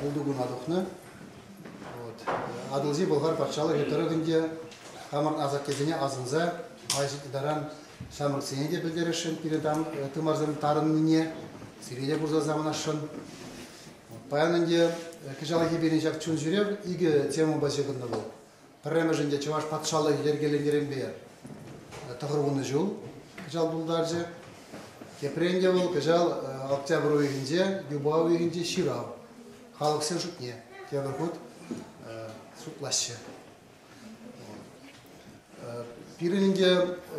пултукуна тухнӑ. Атӑлҫи Болгар патшалӑхӗ тӑрӑхӗн те хамӑр асаттесене асӑнса Аҫ таран ҫамрӑксене те пӗлтересшӗн пирӗн тымарсем тарӑннине, сире те курса савӑнасшӑн. Паян ӗнтӗ кӑҫалхи пирӗн ҫак чун ҫӳрев икӗ темӑпа ҫыхӑннӑ вӑл. Пӗрремӗшӗн те Чӑваш патшалӑх йӗркеленӗренпе тӑхӑрвуннӑ ҫул кӑҫал тултарчӗ. Тепрен те вӑл кӑҫал октябрь уйӑхӗнче, юпа уйӑхӗнче ҫырав халӑхсен шутне тепӗр хут шутлаҫҫӗ. Пирӗн ӗнтӗ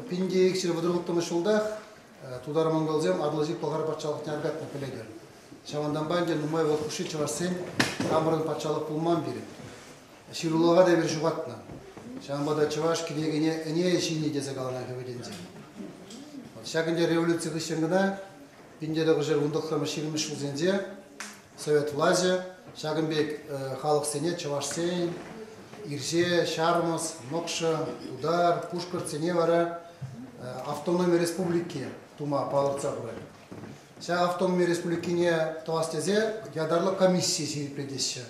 пин те икҫӗр вӑтӑрвӑттӑмӗш ҫултах тутар-монголсем Атӑлҫи Пӑлхар патшалӑхне аркатма пӗлетӗр. Ҫавӑнтанпа ӗнтӗ нумай вӑл хушши чӑвашсен хамӑрӑн патшалӑх пулман пирӗн. ҫырулӑха та эпир ҫухатнӑ. Ҫавӑнпа та чӑваш кӗнекене ӗне ҫини тесе каланӑ хӗвелӗнче. Ҫак ӗнтӗ революци хыҫҫӑн кӑна 1919-20 ҫулсенче совет влаҫӗ ҫакӑн пек халӑхсене чӑвашсен ирҫе, ҫармӑс, мӑкшӑ, тутар, пушкӑртсене вара автономи республики тума палӑртса хурать. Ҫак автономи республикине тӑвас тесе ятарлӑ комисси ҫирӗплетеҫҫӗ.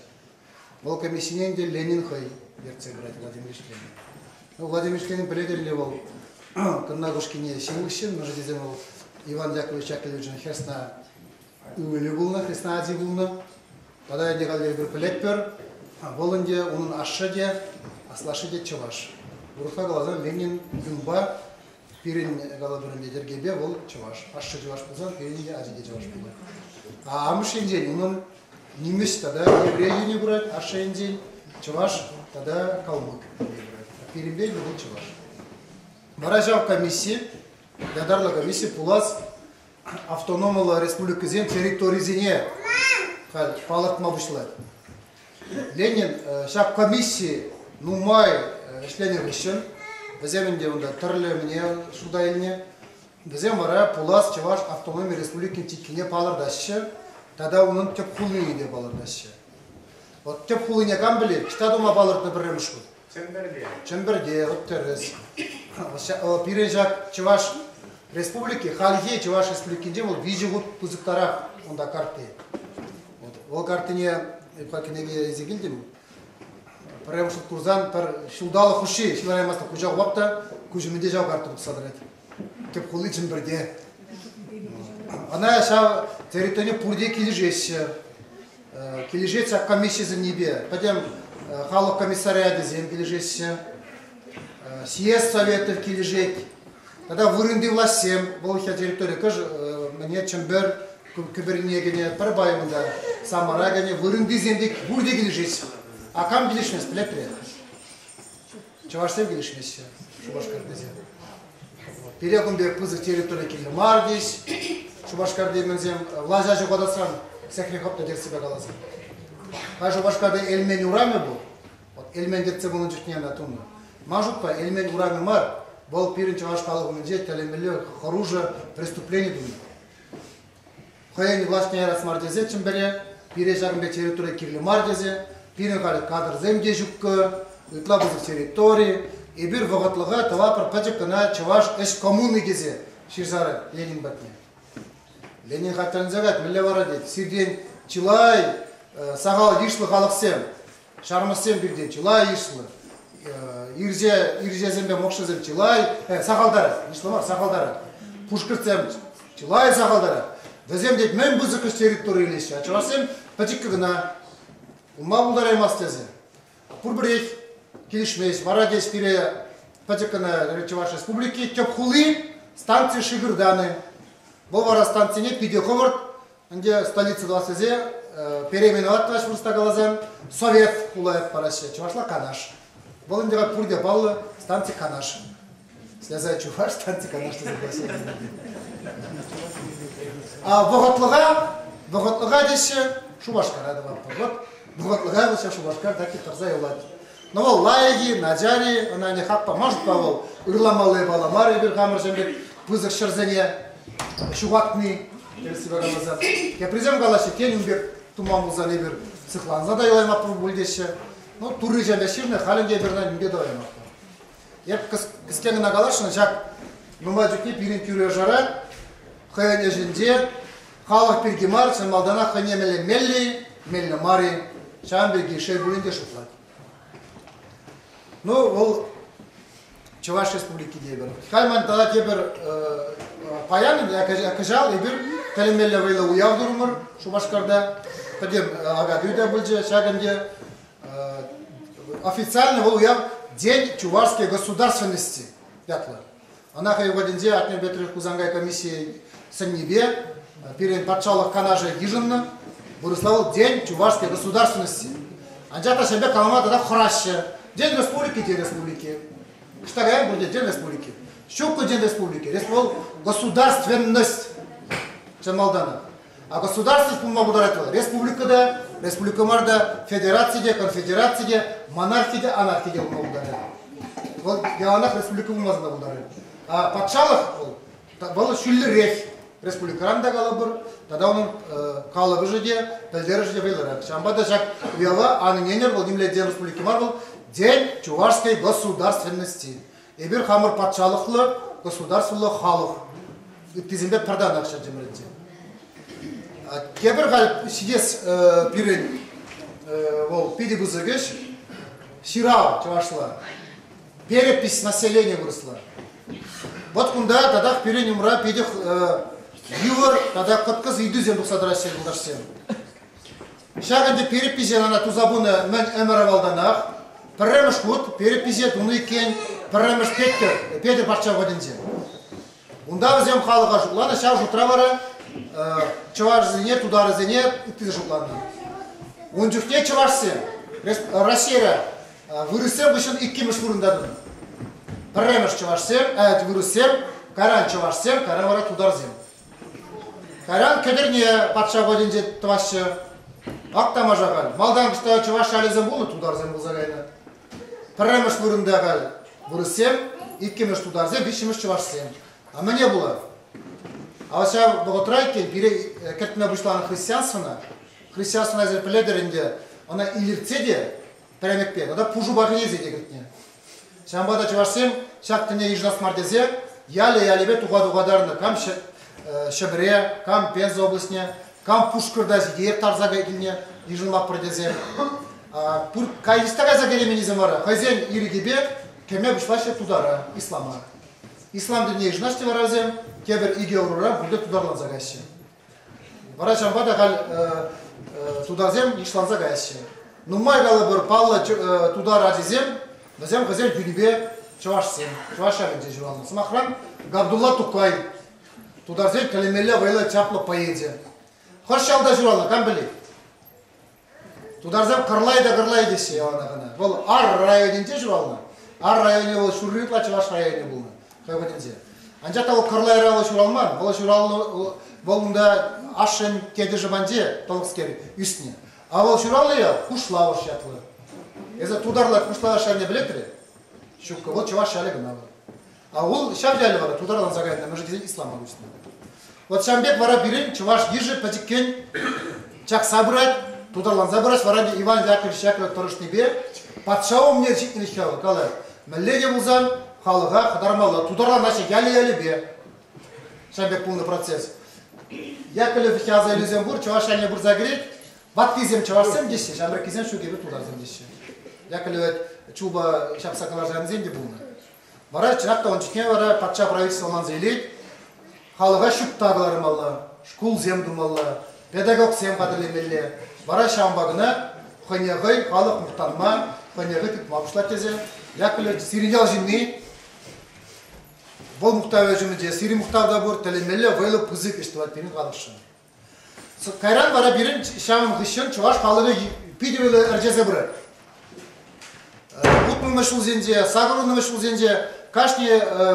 Вӑл комиссине ӗнтӗ Ленин хӑй ертсе пырать Владимир Ильичпен. Ну, Владимир Ильичпен пӗлетӗр-ли вӑл Тӑннакушкине ҫын хыҫҫӑн? Мӗншӗн тесен вӑл Иван Яковлевич Яковлевичӑн хӗрсна ывӑлӗ пулнӑ, хӗрсна ачи пулнӑ. Тата ӗнтӗ халӗ эпир пӗлетпӗр, вӑл ӗнтӗ унӑн ашшӗ те, аслашшӗ те чӑваш. Урӑхла каласан, Ленин юнпа Пирӗн калатурӑн йӗтӗркепе вӑл чӑваш. Ашшӗ чӑваш пулсан пирӗн те ачи те чӑваш пулӗ. Амӑш енчен унӑн нимӗҫ тата еврей йӗне пырать, ашшӗ енчен чӑваш тата калмӑк йӗне пырать. Пирӗнпе вӑл чӑваш. Вара ҫав комисси, ятарлӑ комисси пулас автономлӑ республикӑсен территорисене палӑртма пуҫлать. Ленин ҫак комисси нумай ӗҫленӗ хыҫҫӑн вӗсем ӗнтӗ унта тӗрлӗмне шута илнӗ. Вӗсем вара пулас Чӑваш автономи республикин титрине палӑртаҫҫӗ тата унӑн тӗп хулине те палӑртаҫҫӗ. Вот тӗп хулине кам пӗлет, ниҫта тума палӑртнӑ пӗрремӗш хут. Чӗмпӗрте. Чӗмпӗрте, вӑт тӗрӗс. Пирӗн ҫак Чӑваш Республики, хальхи Чӑваш Республикинче вӑл виҫӗ хут пысӑктарах унта картти. Вӑл картине эпха кӗнеке илсе килтӗм. Пӗрремӗш хут курсан пӗр ҫулталӑк хушши ҫыланаймастан куҫа хурап та куҫ умӗнче ҫав карта тухса тӑрать. Тӗп хули Чӗмпӗрте. Ӑна ҫав территорине пурте килӗшеҫҫӗ. Килӗшет комисси сӗннипе пӗтӗм халӑх комиссариатӗсем килӗшеҫҫӗ. Съезд советӗ килӗшет. Тата вырӑнти влаҫсем, вӑл ҫав территори кӑш мӗне Чӗмпӗр кӗперне кӗнӗ, пӗр пайӑнта, самара кӗнӗ, вырӑнтисем те пурте килӗшет. А кам килӗшмест, пӗлетре. чӑвашсем килӗшмеҫҫӗ Шупашкартисем. Пире кун пек пысӑк территори килнӗ мар тес. Шупашкарти мӗнсем влаҫа ҫухатасран сехне хӑптӑ терссипе каласан. Хай Шупашкарти Элмен урамӗ пул. Вот Элмен тертсе пулнӑ чухне ӑна тунӑ. Ман шутпа Элмен урамӗ мар, вӑл пирӗн чӑваш халӑх умӗнче тӗлӗмелле хӑрушӑ преступлени тунӑ. хӑйӗн влаҫне ярас мар тесе Чӗмпӗре пире ҫакӑн пек территори кирлӗ мар тесе пирӗн халь кадрсем те ҫуккӑ, ытла пысӑк территори, эпир вӑхӑтлӑха тӑватпӑр пӗчӗк кӑна чӑваш ӗҫ коммуни тесе ҫырсарӗ Ленин патне. Ленин хатӗрленсе кать, мӗнле вара тет, сиртен чылай сахал йышлӑ халӑхсем Ҫармӑссем пирте чылай йышлӑ. Ирҫесемпе мӑкшӑсем чылай, сахалтарать, йышлӑ мар, сахалтарать. Пушкӑртсем чылай сахалтарать. Вӗсем тет мӗн пысӑкӑш территори илеҫҫӗ, а чӑвашсем пӗчӗккӗ кӑна. Унпа пултараймасть тесе. Пурпӗрех килӗшмест. Вара тет пире пӗчӗк кӑна Чӑваш Республики тӗп хули станци Шыгыр Даны. Вӑл вара станцине питӗ хӑвӑрт Ӗнтӗ столица тӑвас тесе переименовать тӑваҫ вырӑсла каласан Совет хула ят параҫҫӗ, чӑвашла Канаш. Вӑл ӗнтӗ пурте паллӑ станци Канаш. Слеза чуваш станци Канаш тесе классик. А вӑхӑтлӑха, вӑхӑтлӑха теҫҫӗ Шупашкара тӑватпӑр. Вот вӑхӑтлӑха вӑл ҫав Шупашкар так и тӑрса юлать. Ну вӑл лайӑх-и, начар-и, ӑна нихак памашт-ха вӑл. Ырламалли пала мар эпир хамӑрсем пек пысӑк ҫӗрсене ҫухатни, тепӗр себе каласа. Теприсем калаҫҫӗ, тен, ун пек туман пулсан эпир сыхланса та юлаймастпӑр пуль теҫҫӗ. Ну, турричем ҫырнӑ, халӗ те эпир ӑна нимпе тӑваймастпӑр. Эп кӗске кӑна каласшӑн, ҫак нумай чухне пирӗн тӳре-шара хӑйӗн ӗҫӗнче халӑх пирки мар, чӑн малтанах хӑйне меллемелли, меллӗ мар-и, ҫавӑн пирки шел пулин те шутлать. Ну, вӑл Чӑваш Республики тепӗр. Халь ман тата тепӗр паян кӑҫал эпир тӗлӗнмелле вӑйлӑ уяв турӑмӑр Шупашкарта. Пӗтем акатуй та пулчӗ ҫак ӗнтӗ. официально вӑл уяв День чувашской государственности ятлӑ. Она хӑй вӑхӑтӗнче Атнер Петрович Хусанкай комиссийӗ сӗннипе пирӗн патшалӑх канашӗ йышӑннӑ. Вырӑсла вӑл День чувашской государственности. Анчах та ҫемпе калама тата хӑраҫҫӗ. День республики те республики. Штагаян пурте День республики. Щукку день республики. Вӑл государственность. Чӑн малтанах. А государственность пулма пултарать вӑл республика та, республика мар та, федераци те, конфедераци те, монархи те, анархи те пулма пултарать. Вӑл яланах республика пулмасӑр пултарать. А патшалӑх вӑл, вӑл ҫӳллӗрех республикӑран та калӑпӑр, тата унӑн калӑпӑшӗ те, пӗлтерӗшӗ те вӑйлӑрах. Ҫавӑнпа та ҫак уява анӗн енӗр вӑл нимле ден республики мар вӑл, день чувашской государственности. Эпир хамӑр патшалӑхлӑ государствӑлла халӑх ыттисемпе пӗр танах ҫӗнчӗмӗрӗнче. Тепӗр халь ҫитес пирӗн вӑл питӗ пысӑк ӗҫ ҫырав чӑвашла, перепись населения вырӑсла. Вот кунта татах пирӗн умра питӗ йывӑр тата кӑткӑс ыйтусем тухса тӑраҫҫӗ юлташсем. Ҫак ӗнтӗ перепиҫе ӑна туса пынӑ мӗн ӗмӗр авалтанах. Пӗрремӗш хут перепиҫе тунӑ иккен пӗрремӗш Петӗр, Петӗр патша вӑтӗнче. Унта вӗсем халӑха шутланӑ, ҫав шутра вара чӑвашсене, тутарӗсене ытти те шутланӑ. Ун чухне чӑвашсем Россия вырӑссем хыҫҫӑн иккӗмӗш вырӑнта тунӑ. Пӗрремӗш чӑвашсем, вырӑссем, кайран чӑвашсем, кайран вара тутарсем. Кайран Кӗтӗрне патша патӗнче тӑваҫҫӗ. Ак тамаша халь. Малтан кӑҫта чӑваш шалӗсем пулнӑ, тутарсем пулса кайнӑ. Пӗрремӗш вырӑнта халь вырӑссем, иккӗмӗш тутарсем, виҫҫӗмӗш чӑвашсем. А мӗне пулать? А ҫав вӑхӑтра иккен пире кӗртме пуҫланӑ христианствӑна, христианствӑна эсир пӗлетӗр ӗнтӗ, ӑна илӗртсе те пӗремӗкпе тата пушӑ бархийӗсем те кӗртнӗ. Ҫавӑнпа та чӑвашсем ҫак тӗне йышӑнас мар тесе ялӗ-ялӗпе туха-тухатарнӑ, кам Ҫӗпре, кам Пенза облаҫне, кам Пушкӑрта сире тарса килнӗ йышӑнмаппӑр тесе. Кайсиста кайса кӗременисем вара хӑйсен ирӗкӗпе кӗме пуҫлаҫҫӗ тутара, ислама. Ислам тӗнне йышӑнаҫҫӗ вара вӗсем тепӗр икӗ ӑрура пурте тутарланса каҫҫӗ. Вара ҫавӑнпа та халь тутарсем йышланса каяҫҫӗ. Нумай калӑпӑр, паллӑ тутар ачисем, вӗсем хӑйсен кӳрипе чӑвашсем, чӑваш ҫавӗнче ҫуралнӑ. Сӑмахран, Габдулла Тукай, тутарсен тӗлӗмелле вӑйлӑ чаплӑ поэчӗ. Хӑш ялта ҫуралнӑ, кам пӗлет? Тутарсем кӑрлай та кӑрлай теҫҫӗ яланах ӑна. Вӑл Ар районӗнче ҫуралнӑ. Ар районӗ вӑл ҫурри ытла чӑваш районӗ пулнӑ хӑй патӗнче. Анчах та вӑл кӑрлайра вӑл ҫуралман. Вӑл ҫуралнӑ вӑл унта ашшӗн тетӗшӗ панче тӑлӑхскер ӳснӗ. А вӑл ҫуралнӑ ял Хушлавӑш ятлӑ. Эсӗ тутарлӑ Хушлавӑш ялне пӗлетре? Ҫуккӑ, вӑл чӑваш ялӗ кӑна вӑл. А вӑл ҫав ялӗ вара тутарланса кайнӑ, мӗншӗн тесен исламӑн уҫнӑ. Вот ҫавӑн пек вара пирӗн чӑваш йышӗ пӗчӗккӗн чакса пырать, тутарланса пырать, вара ӗнтӗ Иван Яковлевич Яковлев тӑрӑшнипе патша умне ҫитнӗлӗх ял калать. Мӗнле те пулсан халӑха хӑтармалла, тутарланаҫҫӗ ялӗ-ялӗпе. Ҫавӑн пек пулнӑ процесс. Яковлев аса илӳсем пур, чӑваш ялне пырса кӗрет, ваттисем чӑвашсем теҫҫӗ, ҫамрӑккисем ҫукипе тутарсем теҫҫӗ. Яковлев чуба ҫапса кӑларса янисем те пулнӑ. Вара чӑнах та ун чухне вара патша правительство манса илет, халӑха ҫутта кӑлармалла, шкулсем тумалла, педагогсем хатӗрлемелле. Вара ҫавӑнпа кӑна хӑйне хӑй халӑх мухтанма, хӑйне хӑй тытма пуҫлать тесе Яковлев сирӗн ял ҫынни, вӑл мухтавӗ ҫумӗнче сирӗн мухтав та пур, тӗлӗнмелле вӑйлӑ пысӑк ӗҫ тӑвать пирӗн халӑхшӑн. Кайран вара пирӗн ҫамӑн хыҫҫӑн чӑваш халӑхӗ питӗ виле ӗрчесе пырать. Утмӑлмӗш ҫулсенче, сакӑрӑнмӗш ҫулсенче кашни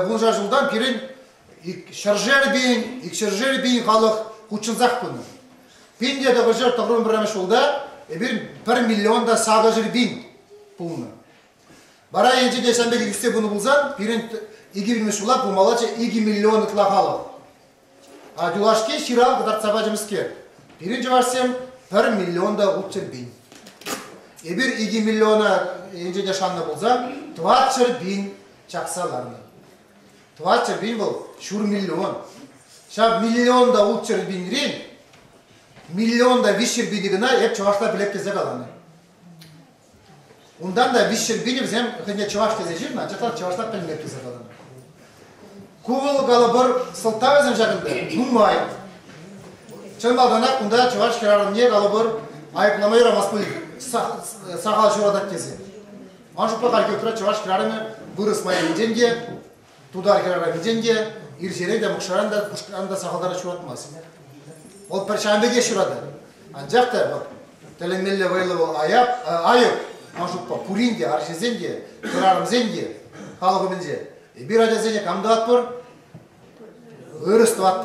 вуншар ҫултан пирӗн ҫӗршер пин, икҫӗршер пин халӑх хутшӑнсах пынӑ. Пин те тӑхӑрҫӗр тӑхӑрмӗш пӗрремӗш ҫулта эпир пӗр миллион та сакӑрҫӗр пин пулнӑ. Вара енчӗке ҫан пек ӳссе пынӑ пулсан пирӗн икӗ пинмӗш ҫула пулмалла икӗ миллион ытла халӑх. юлашки ҫырав кӑтартса пачӗмскер, пирӗн чӑвашсем пӗр миллион та ут чӗрпин. Эпир икӗ миллиона енчен шаннӑ пулсан, тӑват чӗрпин чакса ларнӑ. Тӑват чӗрпин вӑл ҫур миллион. Ҫав миллион та ут чӗрпинрен миллион та виҫ чӗрпини кӑна эп чӑвашла пӗлеп тесе каланӑ. Унтан та виҫҫӗр пин вӗсем хӑйне чӑваш тесе ҫырнӑ, анчах чӑвашла пӗлмех тесе патӑм. Ку вӑл калӑпӑр сӑлтавӗсем ҫакӑнта нумай. Чӑн малтанах кунта чӑваш хӗрарӑмне калӑпӑр айӑплама юрамастпӑн сахал ҫуратать тесе. Ман шутпа хальхи вӑхӑтра чӑваш хӗрарӑмӗ вырӑс майӗнчен те, тутар хӗрарӑмӗ килсен те ирҫере те, мӑкшаран та, кушкӑран та сахалтарах ҫуратмасть. Вӑл пӗр ҫамрӑк пекех ҫуратать. Анчах та вӑл тӗлӗнмелле вӑйлӑ вӑл аяк, айӑп, ман шутпа, пурин те, арҫынсен те, хӗрарӑмсен те халӑх умӗнче. Эпир ачасене кам тӑватпӑр? Ырӑс тӑватпӑр.